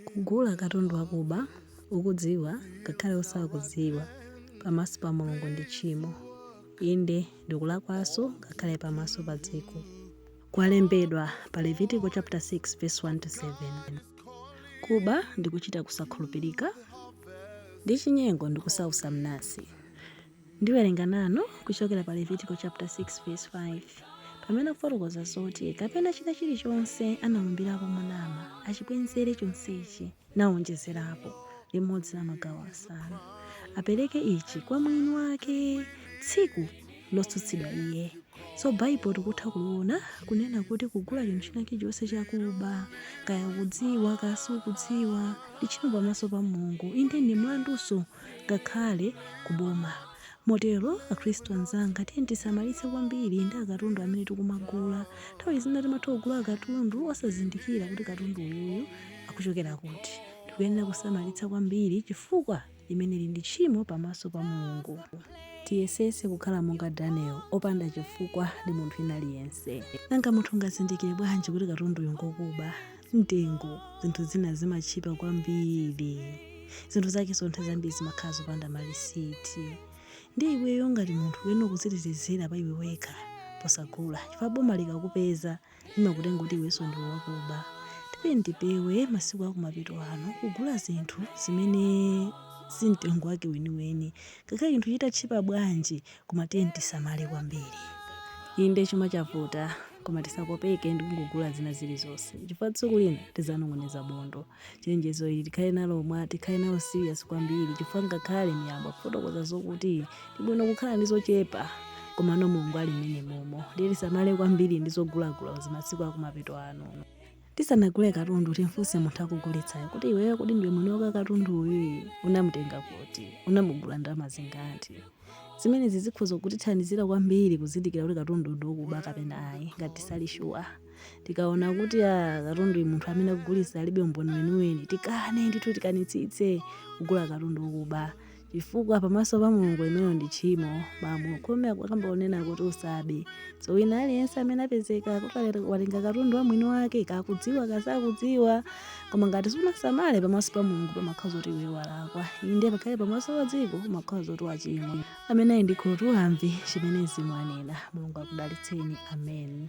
Kugula katundu wakuba ukudziwa ngakhale osakudziwa pamaso pa Mulungu ndi tchimo, inde, ndi kulakwanso ngakhale pamaso pa dziko. Kwalembedwa pa Levitiko chapter 6 verse 1 to 7. Kuba ndi kuchita kusakhulupirika, ndi chinyengo ndi kusausa mnansi. Ndiwerenga nanu kuchokera pa Levitiko chaputala 6 vesi 5, Pamene akufotokoza zoti kapena china chilichonse analumbirapo monama, achibwenzere chonsechi, nawonjezerapo, limodzi la magawo asanu, apereke ichi kwa mwini wake tsiku lotsutsidwa iye. So Baibulo tikutha kuliona kunena kuti kugula chinthu china chilichonse chakuba, kaya ukudziwa kaya sukudziwa, ndi tchimo pamaso pa Mulungu, inde ndi mlandunso. ngakhale ku boma. Motero, Akristu anzanga, tiyeni tisamalitse kwambiri ndi akatundu amene tikumagula. Nthawi zina timatha kugula katundu osazindikira kuti katundu uyuyu akuchokera kuti. Tikuyenera kusamalitsa kwambiri chifukwa limeneli ndi tchimo pamaso pa Mulungu. Tiyesetse kukhala monga Daniel, opanda chifukwa ndi munthu wina aliyense. Nanga munthu ungazindikire bwanji kuti katunduyo ngokuba? mtengo zinthu zina zimatchipa kwambiri zinthu zakenso nthawi zambiri zimakhala zopanda malisiti ndiye iweyo ngati munthu uyenera kudzitetezera pa iwe wekha posagula chifukwa boma likakupeza limakutenga kuti iwenso ndiwe wakuba tipeni tipewe masiku akumapeto ano kugula zinthu zimene si mtengo wake weniweni ngakhale chinthu chitatchipa bwanji Koma tiyeni tisamale kwambiri. Inde chuma chavuta, koma tisakopeke ndi kungogula zina zilizonse chifukwa tsiku lina tidzanong'oneza bondo. Chenjezo ili tikhale nalo mwa tikhale nalo serious kwambiri chifukwa ngakhale Miyambo ikufotokoza zokuti ndi bwino kukhala ndi zochepa komano Mulungu ali mmenemomo. Ndiye tisamale kwambiri ndi zogulagula zimasiku akumapeto ano. Tisanagule katundu timfunse munthu akugulitsayo kuti iweyo kodi ndiwe mwini wake katunduyi? Unamutenga kuti? Unamugula ndalama zingati? Zimenezi zikhoza kutithandizira kwambiri kuzindikira kuti katundu ndi wokuba kapena ayi. Ngati tisali shuwa, tikaona kuti a katunduyi munthu amene akugulitsa alibe umboni weniweni, tikane ndithu tikanitsitse kugula katundu wokuba. chifukwa pamaso pa mulungu limenelo ndi tchimo malamulo khumi akukamba kunena kuti usabe so wina aliyense amene apezeka kuti wale- watenga katundu wa mwini wake kaya ukudziwa kaya sukudziwa koma ngati sunasamale pamaso pa mulungu pamakhala zoti iwe walakwa inde ngakhale pamaso pa dziko umakhala zoti wachimwa amene ali ndi khutu amve chimene mzimu anena mulungu akudalitseni amen